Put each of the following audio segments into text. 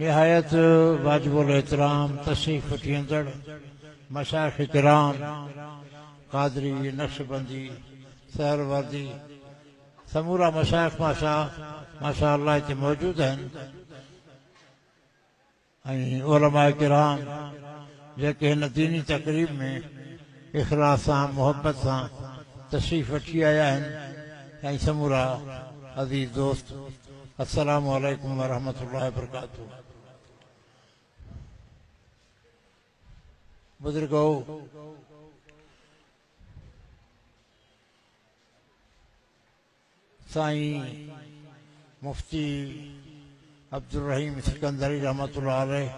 نهايت واجب الاحترام تشريف وٺيندڙ مشائخ ڪرام، قادري، نقشبندي، سهروردي، سمورا مشائخ ماشاء ماشاء الله هتي موجود آهن ۽ علماء ڪرام جيڪي هن ديني تقريب ۾ اخلاص سان محبت سان تشريف وٺي آيا آهن ۽ سمورا عزيز دوست السلام عليڪم ورحمة الله وبرڪاته بزرگو سائين مفتي عبدالرحيم سڪندري رحمة الله عليه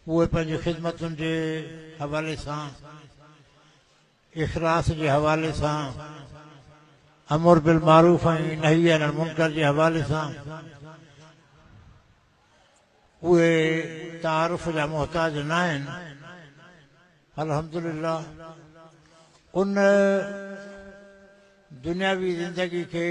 اهي پنهنجي خدمتن جي حوالي سان اخلاص جي حوالي سان امر بالمعروف ۽ نهي عن المنڪر جي حوالي سان اهي تعارف جا محتاج ناهن الحمدلله ان دنياوي زندگي کي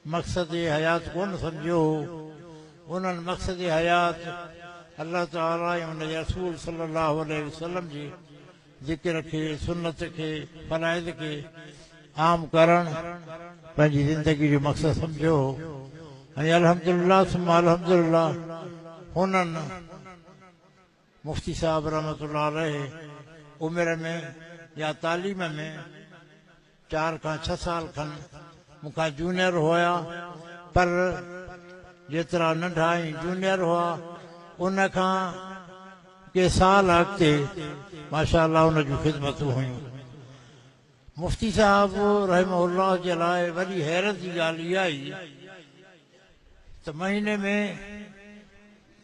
مقصد حيات ڪونه سمجهيو هو انهن مقصد حيات الله تعالي ۽ ان جي رسول صلي الله عليه وسلم جي ذڪر کي، سنت کي، فرائض کي عام ڪرڻ پنهنجي زندگي جو مقصد سمجهيو هو ۽ الحمدلله ثم الحمدلله هنن مفتي صاحب رحمة الله عليه عمر ۾ يا تعليم ۾ چار کان ڇهه سال کن مون کان جونيئر هئا پر جيترا ننڍا ۽ جونيئر هئا ان کان ڪي سال اڳتي ماشاء الله ان جون خدمتون هيون. مفتي صاحب رحمه الله جي لاء وڏي حيرت جي ڳالهه اها ئي ته مهيني ۾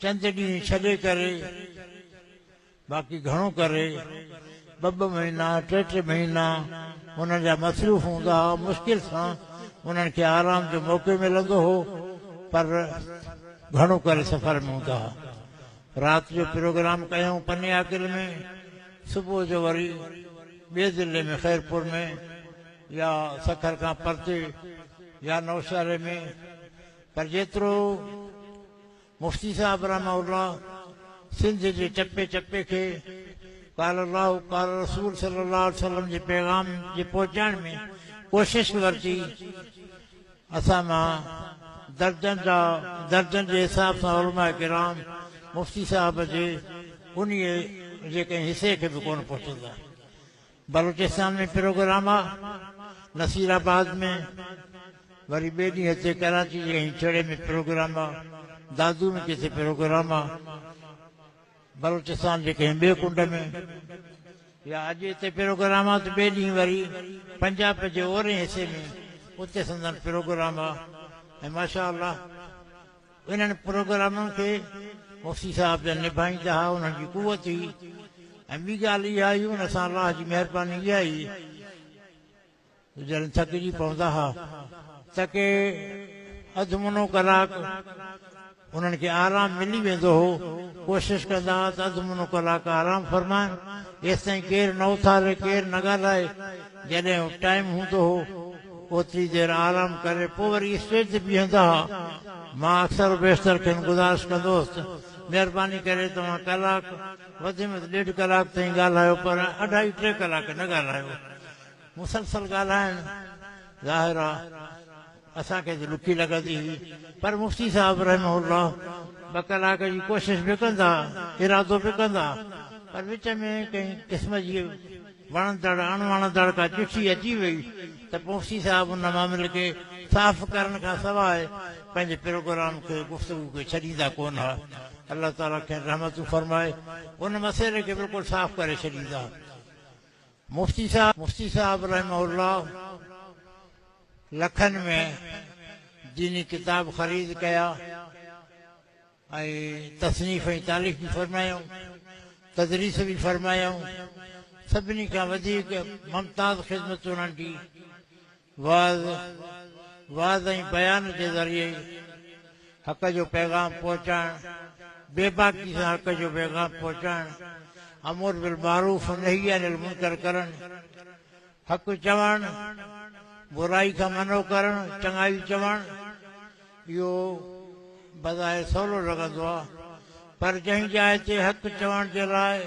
چند ڏينهن ڇڏي ڪري باقي گهڻو ڪري ٻه ٻه مهينا، ٽي ٽي مهينا انهن جا مصروف هوندا هئا، مشڪل سان انهن کي آرام جو موقعو ملندو هو، پر گهڻو ڪري سفر ۾ هوندا هئا. رات جو پروگرام ڪيائون پنياڪل ۾، صبح جو وري ٻئي ضلعي ۾ خيرپور ۾ يا سکر کان پرتي يا نوشهري ۾، پر جيترو مفتي صاحب رحمه الله سنڌ جي چپي چپي کي قال الله قال رسول صلي الله عليه وسلم جي پيغام جي پهچائڻ ۾ ڪوشش ورتي اسان مان درجن جا درجن جي حساب سان علماء ڪرام مفتي صاحب جي انهي جي ڪنهن حصي کي به ڪونه پهچندا بلوچستان ۾ پروگرام آ، نصير آباد ۾ وري ٻئي ڏينهن هتي ڪراچي جي هينچڙي ۾ پروگرام آ، دادو ۾ ڪٿي پروگرام آ، بلوچستان جي ڪنهن ٻئي ڪنڊ ۾ يا اڄ هتي پروگرام آ ته ٻئي ڏينهن وري پنجاب جي اورئين حصي ۾ اتي سندن پروگرام آ ۽ ماشاء الله انهن پروگرامن کي مفتي صاحب جن نڀائيندا ها انهن جي قوت هئي ۽ ٻي ڳالهه اها هئي ان سان الله جي مهرباني اها هئي ته جڏهن ٿڪجي پوندا ها ته ڪي اڌ منو ڪلاڪ انهن کي آرام ملي ويندو هو ڪوشش ڪندا ها ته اڌ منو ڪلاڪ آرام فرمائن ايستائين ڪير نه اٿاري ڪير نه ڳالهائي جڏهن ٽائيم هوندو هو، اوتري دير آرام ڪري پوء وري اسٽيج تي بيهندا ها. مان اڪثر و بيشتر کين گذارش ڪندو هوس ته، مهرباني ڪري توهان ڪلاڪ، وڌ ۾ وڌ ڏيڍ ڪلاڪ تائين ڳالهايو پر اڍائي ٽي ڪلاڪ نه ڳالهايو. مسلسل ڳالهائڻ، ظاهر آ، اسان کي ته ڏکي لڳندي هئي پر مفتي صاحب رحمه الله ٻه ڪلاڪ جي ڪوشش به ڪندا، ارادو به ڪندا پر وچ ۾ ڪنهن قسم جي وڻندڙ اڻ وڻندڙ ڪا چٺي اچي وئي ته مفتي صاحب ان معاملي کي صاف ڪرڻ کان سواء پنهنجي پروگرام کي گفتگو کي ڇڏيندا ڪونه ها. الله تعالي کين رحمتون فرمائي ان مسئلي کي بلڪل صاف ڪري ڇڏيندا. مفتي صاحب رحمه الله لکن ۾ ديني ڪتاب خريد ڪيا ۽ تصنيف ۽ تاليف به فرمايائون، تدريس به فرمايائون. سڀني کان وڌيڪ ممتاز خدمت انهن ڊي. وعظ، وعظ ۽ بيان جي ذريعي حق جو پيغام پهچائڻ، بيباڪي سان حق جو پيغام پهچائڻ، امر بالمعروف نهي عن المنڪر ڪرڻ، حق چوڻ، برائي کان منع ڪرڻ، چڱائي چوڻ، اهو بظاهر سولو لڳندو آهي، پر جنهن جاء تي حق چوڻ جي لاء،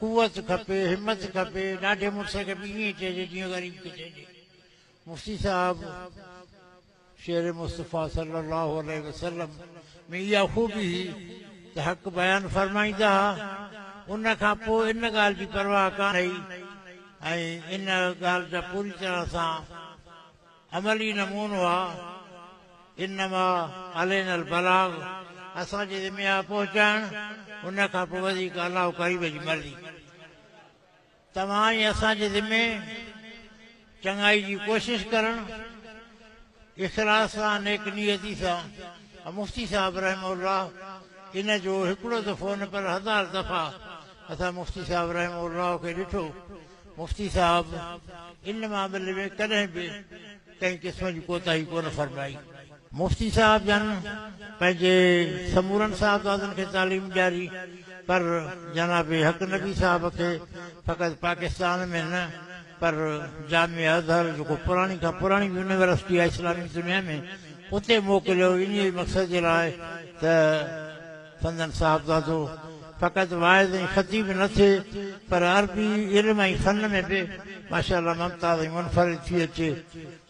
قوت کپي همت کپي ڏاڍي مڙسي کي به ائين چئجي جيئن غريب کي چئجي مفتي صاحب شعر مصطفيٰ صلي الله عليه وسلم ۾ اها خوبي هئي ته حق بيان فرمائيندا ها ان کان پوء ان ڳالهه جي پرواهه ڪانه هئي ۽ ان ڳالهه جا پوري طرح سان عملي نمونو آ، انما علينا البلاغ، اسان جي ذمي آ پهچائڻ، ان کان پوء وڌيڪ الله و قريب جي مرضي. توهان ۽ اسان جي ذمي چڱائي جي ڪوشش ڪرڻ، اخلاص سان، نيڪ نيتي سان ۽ مفتي صاحب رحمه الله ان جو هڪڙو ته فون پر هزار دفعا اسان مفتي صاحب رحمه الله کي ڏٺو مفتي صاحب ان معاملي ۾ ڪڏهن به ڪنهن قسم جي ڪوتاهي ڪونه فرمائي. مفتي صاحب جن پنهنجي سمورن صاحبزادن کي تعليم ڏياري پر جناب حق نبي صاحب کي فقط پاڪستان ۾ نه پر جامع ازهر جيڪو پراڻي کان پراڻي يونيورسٽي آهي اسلامي دنيا ۾ اتي موڪليو انهيء مقصد جي لاء ته سندن صاحبزادو فقط واعظ ۽ خطيب نه ٿئي پر عربي علم ۽ فن ۾ به ماشاء الله ممتاز ۽ منفرد ٿي اچي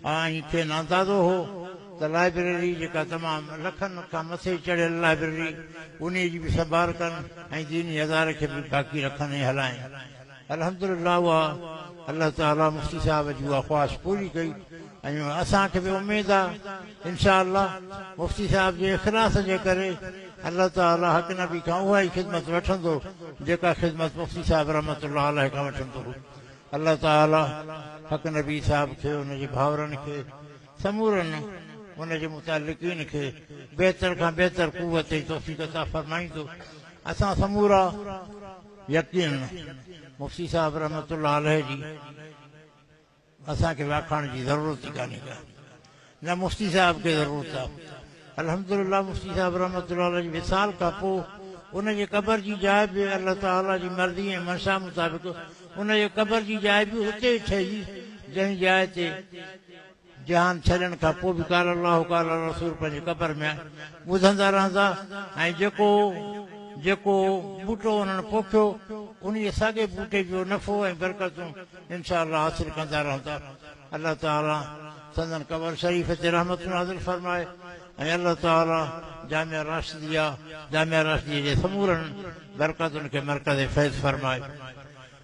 ها ۽ کين اندازو هو ته لائبريري جيڪا تمام لکن کان مٿي چڙهيل لائبريري انهي جي به سنڀال ڪن ۽ ديني اداري کي به باقي رکن ۽ هلائين. الحمدلله اها الله تعالي مفتي صاحب جي اها خواهش پوري ڪئي ۽ اسان کي به اميد آ انشاء الله مفتي صاحب جي اخلاص جي ڪري الله تعالي حق نبي کان اها ئي خدمت وٺندو جيڪا خدمت مفتي صاحب رحمت الله عليه کان وٺندو هو الله تعالي حق نبي صاحب کي ان جي ڀاورن کي سمورن ان جي متعلقين کي بهتر کان بهتر قوت ۽ توفيق عطا فرمائيندو اسان سمورا يقينن مفتي صاحب رحمة الله عليه جي اسان کي وياکاڻ جي ضرورت ئي ڪانهي ڪا نه مفتي صاحب کي ضرورت آ الحمد لله مفتي صاحب رحمة الله عليه جي وصال کان پو ان جي قبر جي جاء به الله تعالي جي مرضي ۽ منشا مطابق ان جي قبر جي جاء به اتي ئي ٺهي جنهن جاء تي جهان ڇڏڻ کان پوء به قال الله قال الرسول پنهنجي قبر ۾ ٻڌندا رهندا ۽ جيڪو جيڪو ٻوٽو انهن پوکيو انهيء ساڳئي ٻوٽي جو نفعو ۽ برڪتون انشاء الله حاصل ڪندا رهندا. الله تعالي سندن قبر شريف تي رحمتون نازل فرمائي ۽ الله تعالي جامعه راشديه جامعه راشديه جي سمورن برڪتن کي مرڪز فيض فرمائي.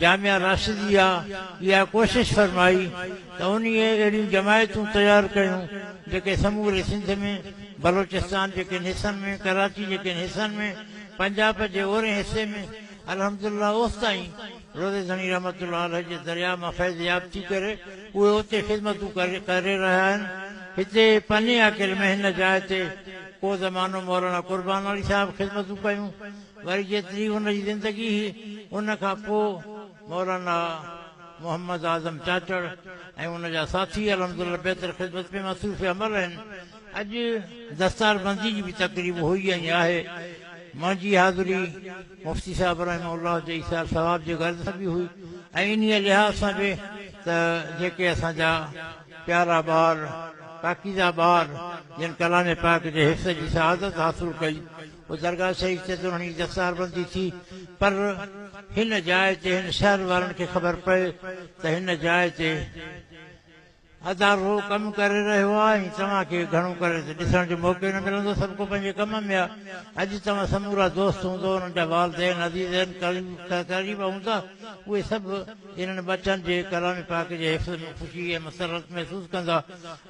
جامع راشديه اها ڪوشش فرمائي ته انهي اهڙيون جماعتون تيار ڪيون جيڪي سموري سنڌ ۾، بلوچستان جي ڪن حصن ۾، ڪراچي جي ڪن حصن ۾، پنجاب جي اورهين حصي ۾، الحمد الله اوستائين روضي ڌڻي رحمة الله عليه جي درياء مان فيض ياب ٿي ڪري اهي اتي خدمتون ڪري رهيا آهن. هتي پني آڪل مهن جاء تي ڪو زمانو مولانا قربان علي صاحب خدمتون ڪيون. وري جيتري هن جي زندگي هئي ان کان پوء مولانا محمد اعظم چاچڙ ۽ ان جا ساٿي الحمدالله بهتر خدمت ۾ مصروف عمل آهن. اڄ دستاربندي جي به تقريب هئي ۽ آهي. منهنجي حاضري مفتي صاحب رحمه الله جي ايثار ثواب جي غرض سان به هئي ۽ انهيء لحاظ سان به ته جيڪي اسان جا پيارا ٻار، پاڪيزه ٻار جن ڪلام پاڪ جي حفظ جي سعادت حاصل ڪئي، پوء درگاهه سيد تي دورهڻي دستاربندي ٿي، پر هن جاء تي هن شهر وارن کي خبر پئي ته هن جاء تي ادارو ڪم ڪري رهيو آهي ۽ توهان کي گهڻو ڪري ته ڏسڻ جو موقعو ئي نه ملندو، سڀ ڪو پنهنجي ڪم ۾ آهي. اڄ توهان سمورا دوست هوندو، انهن جا والدين، عزيزين، قريب هوندا، اهي سڀ انهن ٻچن جي ڪلام پاڪ جي حفظ ۾ خوشي ۽ مسرت محسوس ڪندا.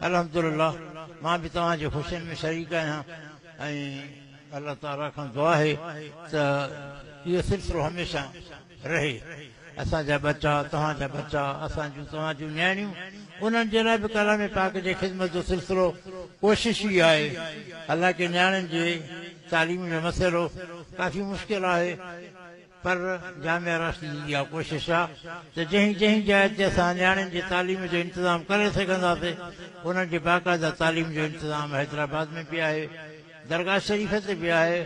الحمدلله! مان به توهان جي خوشين ۾ شريڪ آهيان. ۽ الله تعالي کان دعا آهي ته اهو سلسلو هميشه رهي. اسان جا ٻچا، توهان جا ٻچا، اسان جون توهان جون نياڻيون انهن جي لاء به ڪلام پاڪ جي خدمت جو سلسلو ڪوشش ئي آهي. حالانڪه نياڻين جي تعليم جو مسئلو ڪافي مشڪل آهي. پر جامع راشد جي اها ڪوشش آهي ته جنهن جنهن جاء تي اسان نياڻين جي تعليم جو انتظام ڪري سگهنداسين انهن جي باقاعده تعليم جو انتظام حيدرآباد ۾ به آهي درگاهه شريف تي به آهي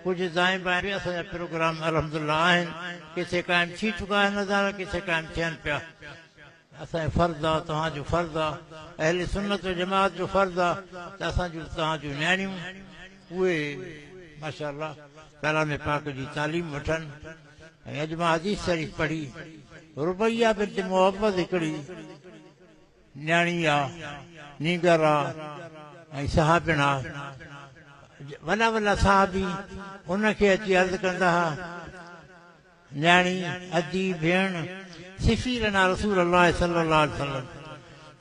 ڪجهه دائين بائين به اسان جا پروگرام الحمدالله آهن ڪٿي قائم ٿي چڪا آهن ادارا ڪٿي قائم ٿين پيا اسان جو فرض آ، توهان جو فرض آ، اهل سنت و جماعت جو فرض آ ته اسان جون ته توهان جون نياڻيون اهي ماشاء الله ڪلام پاڪ جي تعليم وٺن ۽ اڄ مان حديث شريف پڙهي ربيعه بنت معوذ هڪڙي نياڻي آ، نينگر آ ۽ صحابين آ، وڏا وڏا صحابي ان کي اچي عرض ڪندا ها. نياڻي، ادي، ڀيڻ، سفير نا رسول الله صلي الله عليه وسلم!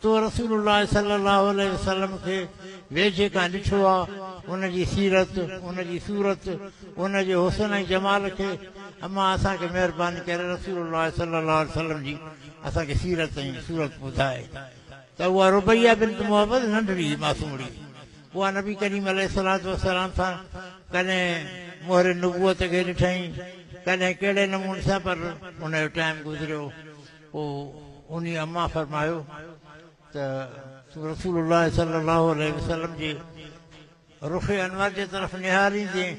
تو رسول الله صلي الله عليه وسلم کي ويجهي کان ڏٺو آ، ان جي سيرت، ان جي صورت، ان جي حسن ۽ جمال کي، امان اسان کي مهرباني ڪري رسول الله صلي الله عليه وسلم جي اسان کي سيرت ۽ صورت ٻڌاء ته اها ربيعه بنت معوذ ننڍڙي هئي، معصومڙي هئي، اها نبي ڪريم عليه الصلوة والسلام سان ڪڏهن مهر نبوت کي ڏٺائين ڪڏهن ڪهڙي نموني سان پر ان جو ٽائيم گذريو پوء انهي اما فرمايو ته تون رسول الله صلي الله عليه وسلم جي رخ انور جي طرف نهاريندين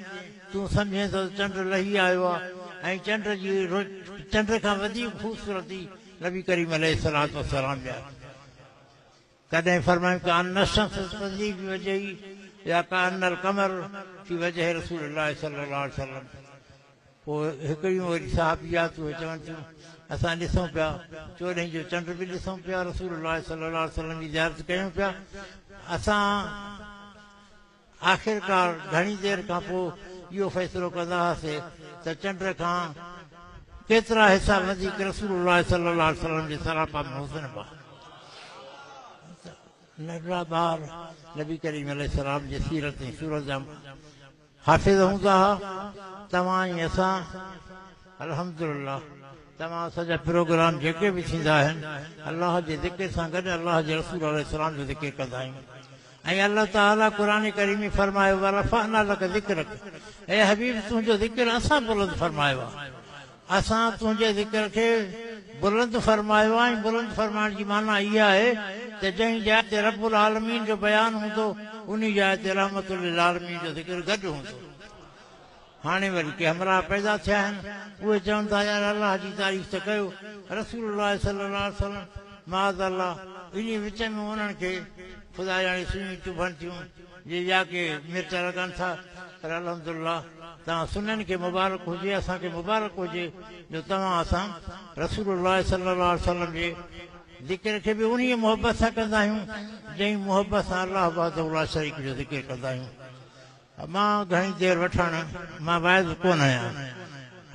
تون سمجهين ٿو ته چنڊ لهي آيو آهي ۽ چنڊ جي چنڊ کان وڌيڪ خوبصورتي نبي ڪريم عليه الصلوة والسلام جا ڪڏهن فرمايون ڪأن الشمس تجري في وجهي يا ڪأن القمر في وجه رسول الله صلي الله عليه وسلم پوء هڪڙيون وري صحابيات اهي چون ٿيون اسان ڏسون پيا چوڏهين جو چنڊ به ڏسون پيا رسول الله صلي الله عليه وسلم جي زيارت ڪيون پيا اسان آخرڪار گهڻي دير کان پوء اهو فيصلو ڪندا هئاسين ته چنڊ کان ڪيترا حصا وڌيڪ رسول الله صلي الله عليه وسلم جي سراپا ۾ هجنبا ته ننڍڙا ٻار نبي ڪريم عليه السلام جي سيرت ۽ صورت جا حافظ هوندا ها. توهان ۽ اسان الحمدلله توهان اسان جا پروگرام جيڪي به ٿيندا آهن الله جي ذڪر سان گڏ الله جي رسول عليه السلام جو ذڪر ڪندا آهيون. ۽ الله تعالي قرآن ڪريم ۾ فرمايو ورفعنا لک ذڪرک اي حبيب تنهنجو ذڪر اسان بلند فرمايو آهي اسان تنهنجي ذڪر کي بلند فرمايو آهي ۽ بلند فرمائڻ جي معنيٰ اها آهي ته جنهن جاء تي رب العالمين جو بيان هوندو انهي جاء تي رحمة للعالمين جو ذڪر گڏ هوندو. هاڻي وري ڪي همراهه پيدا ٿيا آهن، اهي چون ٿا يار الله جي تعريف ته ڪيو، رسول الله صلي الله عليه وسلم، معاذ الله، انهي وچ ۾ انهن کي خدا ڄاڻي سڃون چڀن ٿيون، جي ٻيا ڪي ميٽر لڳن ٿا، پر الحمد الله توهان سنن کي مبارڪ هجي، اسان کي مبارڪ هجي جو توهان اسان رسول الله صلي الله عليه وسلم جي ذڪر کي به انهي محبت سان ڪندا آهيون، جئين محبت سان الله وحده لا شريڪ جو ذڪر ڪندا آهيون. مان گهڻي دير وٺڻ مان واعظ ڪونه آهيان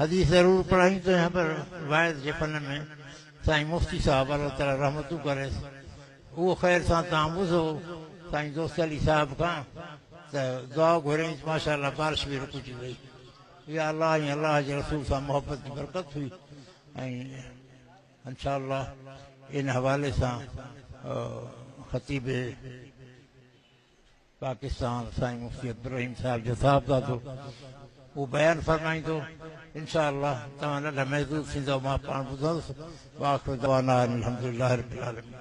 حديث ضرور پڙهائين ته نه پر واعظ جي فن ۾ سائين مفتي صاحب الله تعالي رحمتون ڪريس اهو خير سان تعوذ هو سائين دوست علي صاحب کان ته دعا گهريائين ته ماشاء الله بارش به رڪجي وئي يا الله ۽ الله جي رسول سان محبت جي برڪت هئي ۽ انشاء الله ان حوالي سان خطيب پاڪستان سائين مفتي عبدالرحيم صاحب جو صاحبزادو هو بيان فرمائيندو انشاء الله توهان ننڍ محدود ٿيندو مان پاڻ ٻڌندس واخر دعوانا الحمدلله رب العالمين